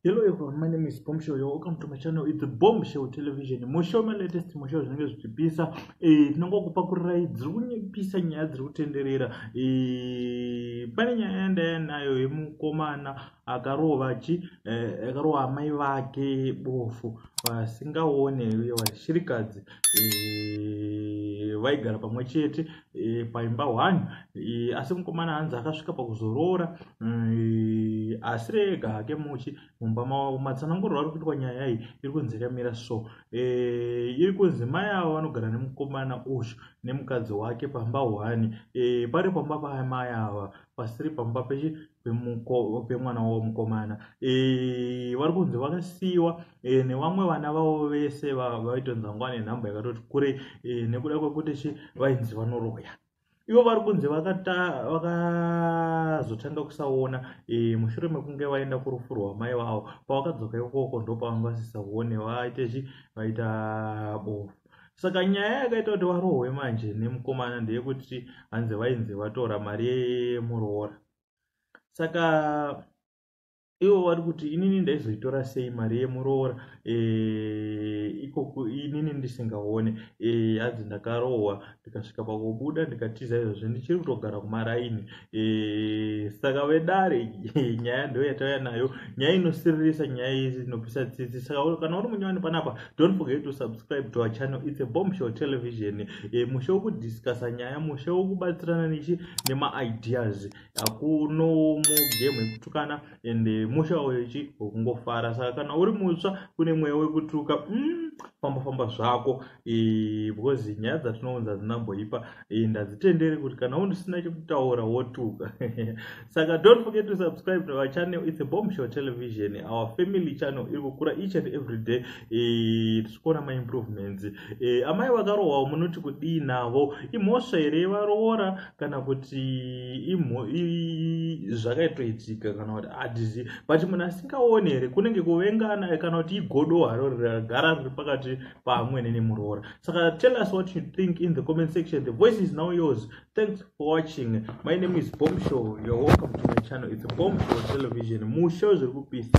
Hello everyone, my name is Bomb Show. You're welcome to my channel. It's Bomb Show Television. Musho my latest musho zvinenge zvichipisa. Eh, tinongo kupa kurai dziri kunyepisa nyaya dziri kutenderera. Eh, pane nyaya yandaya nayo yemukomana akarova chi eh, akarova amai vake bofu. vasingaone vashirikadzi eh, vaigara pamwe chete eh, paimba one eh, asi mukomana hanzi akasvika pakuzoroora asi rega hake muchi mumba mavo matsananguriro ari kuitwa nyaya iyi iri kunzi yakamira so iri kunzi mai avo vanogara nemukomana uyu nemukadzi wake pamba one pari pamba pamai ava pasiri pamba pemwana wavo mukomana eh, vari kunzi vakasiyiwa eh, nevamwe vana vavo vese vaitonzi vangava nenhamba yakatoti kure eh, nekuda kwekuti chi vainzi vanoroya ivo vari kunzi vakazotanga kusaona mushure mekunge vaenda kurufu rwamai vavo pavakadzoka ikoko ndopavanga vasisaone vaite chi vaita bofu saka nyaya yakaita kuti varohwe manje nemukomana ndeyekuti hanzi vainzi vatora mari yemuroora saka ivo vari kuti inini ndaizoitora sei mari yemuroora eh, ikoku inini ndisingaone eh, hanzi ndakarohwa ndikasvika pakubuda ndikatiza izvozvo ndichiri kutogara kumaraini eh, saka vedare eh, nyaya ndo yatauya nayo nyaya inosiririsa nyaya izi inopisa tsitsi saka kana uri munyowani panapa don't forget to subscribe to our channel its a bomb show television eh, mushe wokudiscusa nyaya mushe wokubatsirana nichi nemaideas hakuno mugame ekutukana and eh, musha uyo chi wekungofara saka kana uri mutsva kune mweya wekutuka mm, famba famba zvako eh, because nyaya dzatinounza hadzinamboipa eh, ndadzitendere kuti kana unisina chekutaura wotuka saka don't forget to subscribe to our channel its a bomb show television our family channel iri kukura each and every day eh, tisikuona maimprovements eh, amai vakarohwawo munoti kudii navo imhosva here varoora kana kuti zvakaitoitika kana kuti hatizivi but munhu asingaoni here kunenge kuvengana kana kuti igodo haro ragara riri pakati paamwene nemuroora saka tell us what you think in the comment section the voice is now yours thanks for watching my name is bomb show you're welcome to my channel it's a bomb show television mushow zviri kupisa